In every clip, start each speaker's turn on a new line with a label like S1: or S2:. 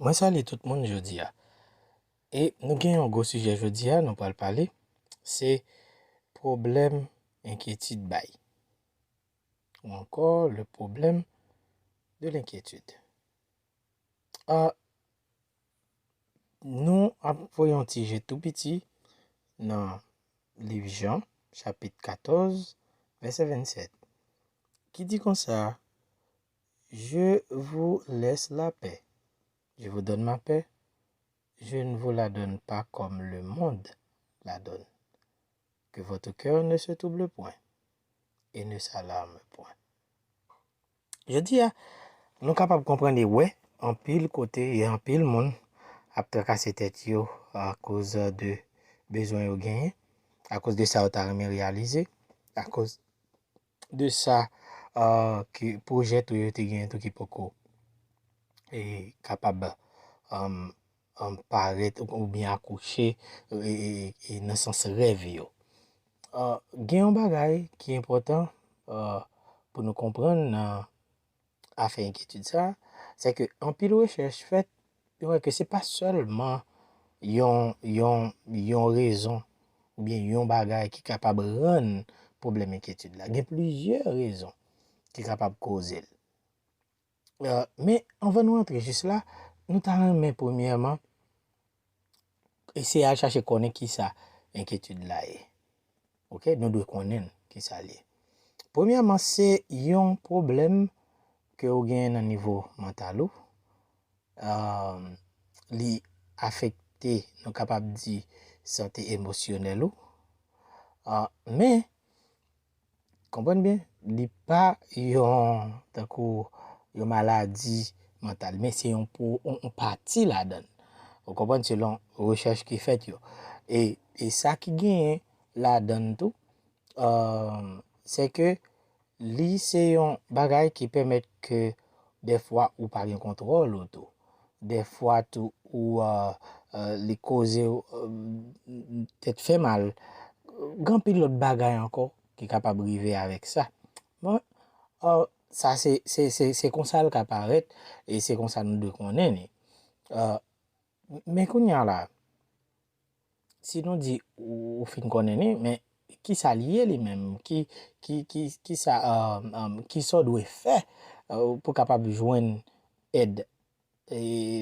S1: Mwen salye tout moun jodi a e nou gen yon gwo sijè jodi a nou pral pale se pwoblèm enkyetid bay ou ankò le problème de l'inquiétude a nou ap voye yon ti je tou piti nan liv jan chapit 14 vèsè 27 ki di konsa Je vous laisse la paix, je vous donne ma paix, je ne vous la donne pas comme le monde la donne. Que votre cœur ne se trouble point et ne s'alarme point. Jodi a, nou kapab konprann e wè anpil kote e anpil moun ap trakase tèt yo akoz de bezwen yo genyen, akoz de sa yo ta renmen reyalize, akoz. de sa ke pwojè tou yo te genyen tou ki poko e kapab an parèt ou byen akouche e nan sans rèv yo. Gen yon bagay ki enpòtan pou nou konprann nan a fè enkyetid sa, se ke anpil rechèch fèt, yo wè ke se pa sèlman yon, yon, yon rezon oubyen yon bagay ki kapab rann pwoblèm enkyetid la. Gen plizyè rezon ki kapab koze l. Men, anvan nou antre jis la, nou ta renmen premyèman, eseye al chache konnen ki sa enkyetid la ye. Ok, nou dwe konnen ki sa li ye. Premyèman, se yon pwoblèm ke ou genyen nan nivo mantal ou. Li afekte, nou kapab di, sante emosyonèl ou. Men. Konprann byen, li pa yon tankou yon maladi mantal, men se yon pou yon pati ladan l. Ou konprann selon rechèch ki fèt yo. E sa ki genyen ladan l tou, se ke li se yon bagay ki pèmèt ke Dèfwa ou pa gen kontwòl ou tou. Dèfwa tou ou li kozew tèt fè mal. Gen anpil lòt bagay ankò ki kapab rive avèk sa. Bon, sa se se se se konsal ka parèt e se konsa nou dwe konnen li. Men kounya la, si nou di ou fin konnen li, men kisa li ye li menm? Kisa, kisa w dwe fè pou kapab jwenn èd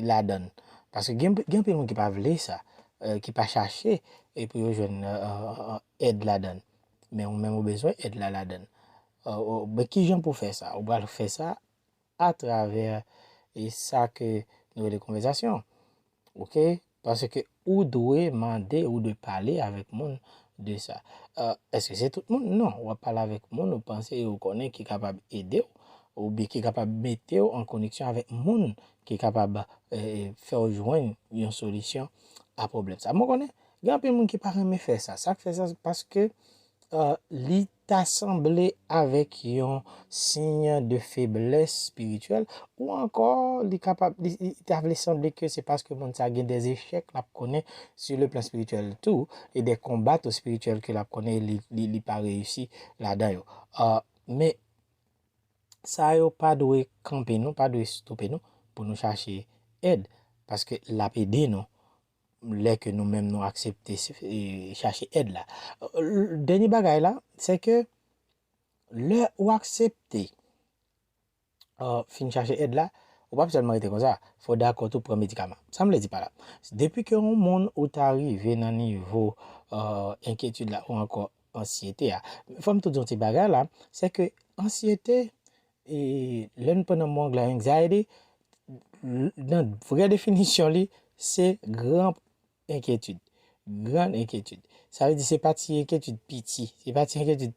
S1: ladan l? Paske gen anpil moun ki pa vle sa, ki pa chache pou yo jwenn èd ladan l. Men ou menm ou bezwen èd la ladan l. Kijan pou fè sa? Ou pral fè sa. atravè e sa ke nou rele konvèzasyon ok paske ou dwe mande ou dwe pale avèk moun de sa eske se tout moun non wap pale avèk moun ou panse ou konnen ki kapab ede ou ou byen ki kapab mete ou an koneksyon avèk moun ki kapab fè ou jwenn yon solisyon a pwoblèm sa mwen konnen gen anpil moun ki pa renmen fè sa sak fè sa se paske li ta sanble avèk yon siy de feblès spirityèl, ou ankò li kapab, li ta vle sanble ke se paske moun sa gen des echèk l ap konnen su le plan spirityèl tou, e de konba tou spirityèl ke l ap konnen e li pa reyisi ladan yo. Men, sa yo pa dwe kanpe nou, pa dwe stope nou pou nou chache èd, paske l ap ede nou lè ke nou menm nou aksepte chache èd la. Dènye bagay la, se ke lè ou aksepte fin chache èd la, ou pap sèlman rete konsa, fò w dakò tou pran medikaman. Sa m vle di pa la, depi ke yon moun ou ta rive nan nivo enkyetid la ou ankò ansyete a, fò m tou di yon ti bagay la, se ke ansyete Lè nou pran nan mo anglè anxiety, nan vrè definisyon li, se gran enkyetid. Gran enkyetid. Sa vle di se pa ti enkyetid piti. Se pa ti enkyetid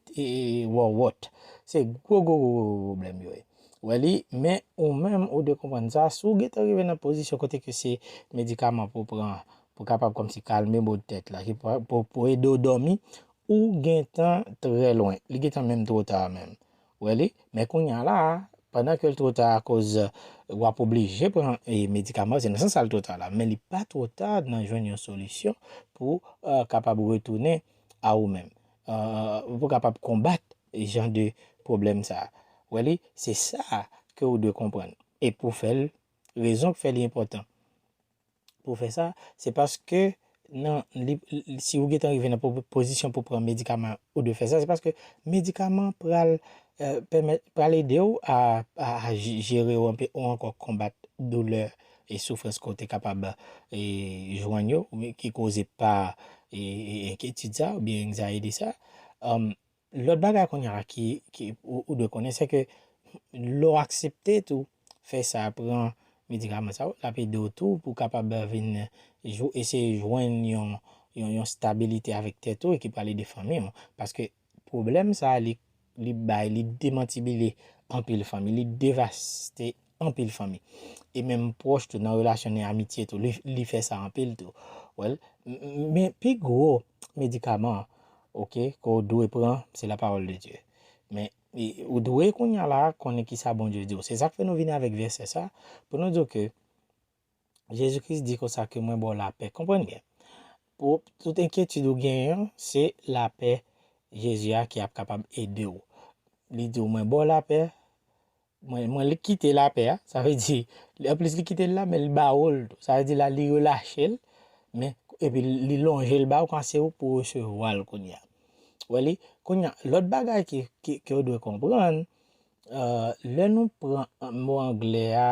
S1: wòwòt. Se gwo gwo gwo gwo pwoblèm yo ye. Ou wè li, men ou menm ou dwe konprann sa, si w gen tan rive nan pozisyon kote ke se medikaman pou w pran, pou kapab kòmsi kalme mò tèt la, pou ede w dòmi, ou gen tan trè lwen. Li gen tan menm twò ta menm. Wè li, men kounya la a, pandan ke l two ta akoz w ap oblije pran medikaman yo, se nan sans sa l two ta la, men li pa two ta nan jwenn yon solisyon pou kapab retounen a ou menm, pou w kapab konbat jan de pwoblèm sa a. Wè li, se sa a ke ou dwe konprann e pou w fè l, rezon k fè li enpòtan. pou fè sa, se paske nan li, si ou gentan rive nan pozisyon pou pran medikaman an, ou dwe fè sa, se paske medikaman an pral pèmèt, pral ede ou a jere ou anpe ou ankò konbat doulè e soufrans ke w te kapab jwenn yo, ki koze pa enkyetid sa oubyen anxiety sa. Lòt bagay kounya ki ou dwe konnen se ke lè w aksepte tou fè sa pran medikaman sa yo l ap ede w tou pou w kapab vin eseye jwenn yon stabilite avèk tèt ou e ki pral ede fanmi w paske pwoblèm sa li bay li demantibile anpil fanmi li devaste anpil fanmi e menm pwòch tou nan relasyon ni amitye tou li fè sa anpil tou wèl men pi gwo medikaman ok ke w dwe pran se la pawòl de Dye men ou dwe kounya la konnen kisa Bondye di w se sak fè nou vini avèk vèsè sa pou nou di w ke Jezi Kris di konsa ke mwen ba w lapè. Konprann byen. Pou tout enkyetid ou genyen an, se lapè Jezi a ki ap kapab ede w. Li di w mwen ba w lapè, mwen li kite lapè a, sa vle di, anplis li kite l la, men li ba ou l tou. Sa vle di la li relache l, men epi li lonje l ba ou kan se ou pou resevwa l kounye a. Wè li? Kounye a, lòt bagay ke ou dwe konprann, Lè nou pran mo angle a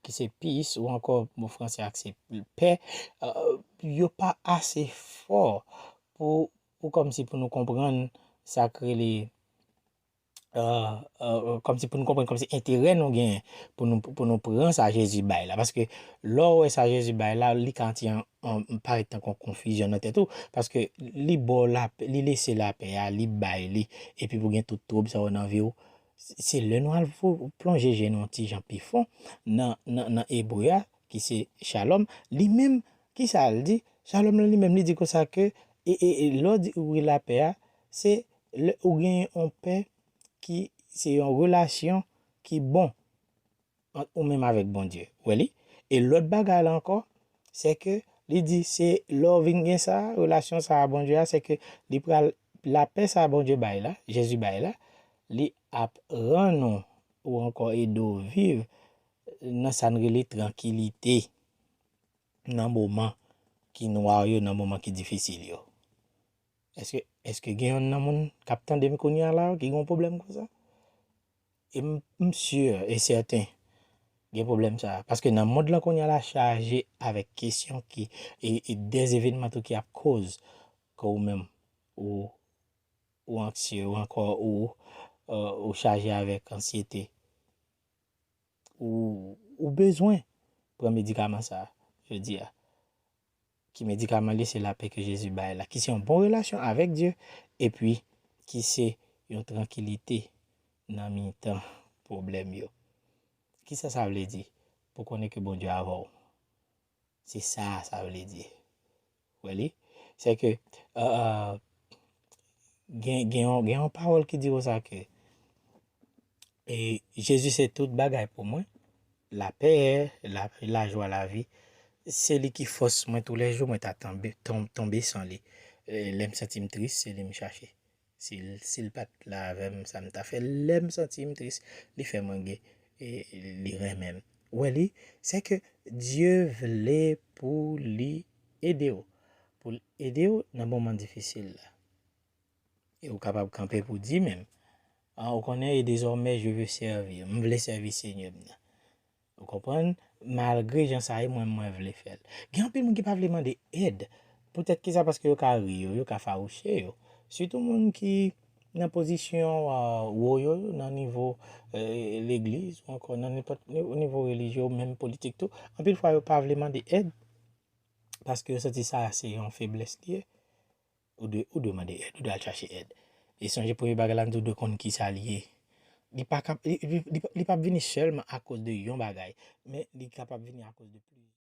S1: ki se peace ou ankò mo franse a ki se paix, yo pa ase fò pou kòm si pou nou konprann sa k rele, kòm si pou nou konprann kòm si enterè nou genyen pou nou pran sa Jezi bay la. Paske lè w wè sa Jezi bay la, li ka anti An pa ret nan kon konfizyon nan tèt ou, paske li ba w lapè, li lese lapè a, li bay li, epi pou gen tout twoub sa yo nan vi w, se lè nou al plonje je nou yon ti jan pi fon nan, nan ebre a, ki se Shalom, li menm, ki sa l di? Shalom lan li menm li di konsa ke, lè w di ou gen lapè a, se lè ou gen yon pè ki se yon relasyon ki bon, ant ou menm avèk Bondye wè li e lòt bagay la ankò sè ke li di se lè ou vin gen sa relasyon sa a Bondye a sè ke li pral lapè sa a Bondye bay la Jezi bay la li ap rann ou ou ankò ede ou viv nan sa n rele trankilite nan moman ki nwa yo nan moman ki difisil yo èske gen youn nan moun k ap tande m kounye a la ki gen yon pwoblèm konsa. E m m sur e sèten gen pwoblèm sa a. Paske nan mond lan kounya la chaje avèk kesyon ki e e dè evenman tou ki ap koz ke ou menm ou ou anksye ou ankò ou ou chaje avèk ansyete. Ou ou bezwen pran medikaman sa a jodi a. Ki medikaman li se lapè ke Jezi bay la, ki se yon bon relasyon avèk Dye, epi ki se yon trankilite nan mitan pwoblèm yo. Kisa sa vle di? Pou konnen ke Bondye avè w. Se sa sa vle di. Ou wè li? Se ke, gen yon pawòl ki di konsa ke, E Jezi se tout bagay pou mwen, lapè, lajwa lavi. Se li ki fòs mwen tou lè jou, mwen ta tonbe san li. Lè m santi m tris, se li m chache. Si l pa t la avè m, sa m ta fè? Lè m santi m tris, li fè mwen ge, li renmen m. Ou wè li? Se ke Dye vle pou li ede w, pou l ede w nan moman difisil la. E ou kapab kanpe pou di menm, A, ou konnen, e dezòmè je ve sèvi, m vle sèvi Senyè m nan. Ou konprann? Malgre jan sa ye, mwen mwen vle fè l. Gen anpil moun ki pa vle mande èd. Poutèt ki sa? Paske yo ka ri yo, yo ka fawouche yo. Sitou moun ki nan pozisyon wo yo, nan nivo legliz, ou ankò nan nenpòt nivo relijye ou menm politik tou, anpil fwa yo pa vle mande èd, paske yo santi sa se yon feblès li ye. Ou dwe, ou dwe mande èd, ou dwe al chache èd. E sonje premye bagay la, nou dwe konn kisa li ye. Li pa kap, li, li, li pap vini sèlman akoz de yon bagay, men li kapab vini akoz de plizyè.